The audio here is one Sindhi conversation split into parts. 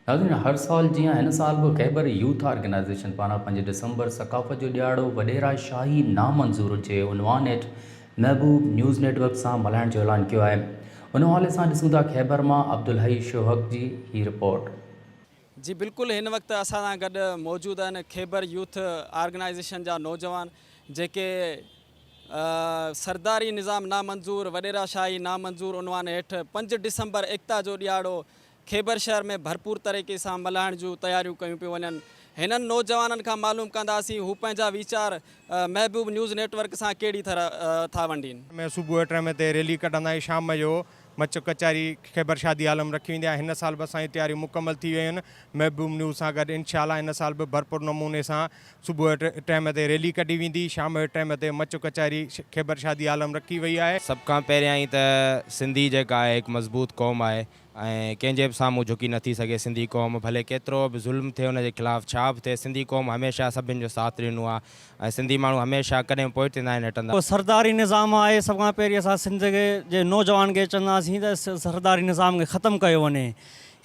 ناظرين هر سال جيان هن سال به خيبر يوٿ آرگنائيزيشن پاران پنج ڊسمبر ثقافت جو ڏيهاڙو وڏيرا شاهي نامنظور جي عنوان هيٺ محبوب نيوز نيٽ ورڪ سان ملهائڻ جو اعلان ڪيو آهي ان حوالي سان ڏسون ٿا خيبر مان عبدالحئي شوهڪ جي هي رپورٽ. جي بلڪل هن وقت اسان سان گڏ موجود آهن خيبر يوٿ آرگنائيزيشن جا نوجوان جيڪي سرداري نظام نامنظور، وڏيرا شاهي نامنظور عنوان هيٺ پنج ڊسمبر ايڪتا جو ڏيهاڙو خيبر شهر ۾ ڀرپور طريقي سان ملهائڻ جون تياريون ڪيون پيون وڃن هنن نوجوانن کان معلوم ڪنداسين هو پنهنجا ويچار محبوب نيوز نيٽ ورڪ سان ڪهڙي طرح ٿا ونڊين. ۾ صبح ٽرمي تي ريلي ڪڍندائين شام جو مچ ڪچهري خيبر شادي هال م رکي ويندي ۽ هن سال به اسان جون تياريون مڪمل ٿي ويون آهن محبوب نيوز سان گڏ انشاء الله هن سال به ڀرپور نموني سان صبح جو ٽئم تي ريلي ڪڍي ويندي شام جو ٽئم تي مچ ڪچهري خيبر شادي هال م رکي وئي آهي. سڀ کان پهريان ئي ته سنڌي جيڪا آهي هڪ مضبوط قوم آهي ۽ ڪنهن جي به سامهون جهڪي نه ٿي سگهي سنڌي قوم ڀلي ڪيترو به ظلم ٿئي ان جي خلاف ڇا به ٿئي سنڌي قوم هميشه سڀن جو ساٿ ڏنو آهي ۽ سنڌي ماڻهو هميشه ڪڏهن به پوئتي ناهن هٽندا. ڪو سرداري نظام آهي سڀ کان پهرين اسان سنڌ جي نوجوان کي چونداسين ته سرداري نظام کي ختم ڪيو وڃي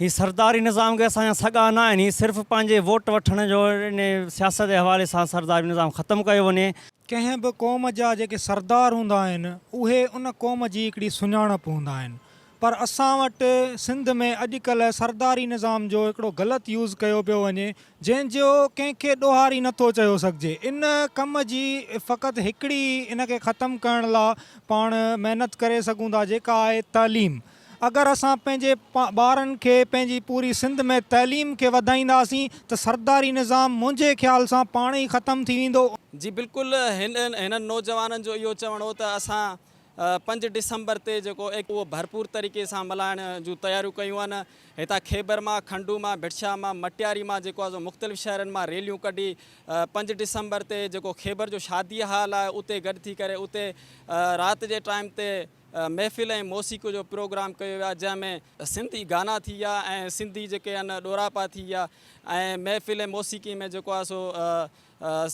هي سرداري نظام کي اسان جا سڳا نه آهن هي صرف پنهنجي ووٽ وٺڻ جو انهي سياست جي حوالي سان سرداري نظام ختم ڪيو وڃي. ڪنهن به قوم جا جيڪي سردار هوندا آهن اهي ان قوم جي هڪڙي سڃاڻپ هوندا آهن پر اسان وٽ سنڌ ۾ اڄ ڪلهه سرداري نظام جو هڪڙو غلط يوز ڪيو پيو وڃي جنهن جو ڪنهن کي ڏوهاري نه ٿو چيو سگهجي ان ڪم جي فقط هڪڙي ان کي ختم ڪرڻ لا پاڻ محنت ڪري سگهون ٿا جيڪا آهي تعليم اگر اسان پنهنجي ٻارن کي پنهنجي پوري سنڌ ۾ تعليم کي وڌائينداسين ته سرداري نظام منهنجي خيال سان پاڻ ئي ختم ٿي ويندو. جي بلڪل هنن نوجوانن جو اهو چوڻ هو ته اسان پنج ڊسمبر تي جيڪو ايڪ اهو ڀرپور طريقي سان ملهائڻ جون تياريون ڪيون آهن هتان خيبر مان کنڊو مان ڀٽشاه مان مٽياري مان جيڪو آهي سو مختلف شهرن مان ريليون ڪڍي پنج ڊسمبر تي جيڪو خيبر جو شادي هال آهي اتي گڏ ٿي ڪري اتي رات جي ٽائيم تي محفل ۽ موسيقي جو پروگرام ڪيو ويو آهي جنهن ۾ سنڌي گانا ٿي ويا ۽ سنڌي جيڪي آهن ڏوراپا ٿي ويا ۽ محفل ۽ موسيقي ۾ جيڪو آهي سو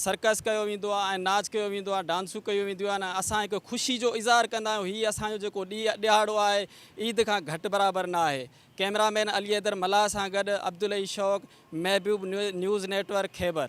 سرڪس ڪيو ويندو آهي ۽ ناچ ڪيو ويندو آهي، ڊانسون ڪيون وينديون آهن ۽ اسان هڪ خوشي جو اظهار ڪندا آهيون، هي اسان جو جيڪو ڏهاڙو آهي عيد کان گهٽ برابر نه آهي، ڪئميرا مين علي حيدر ملاح سان گڏ عبدالحئي شوق، محبوب نيوز نيٽورڪ خيبر.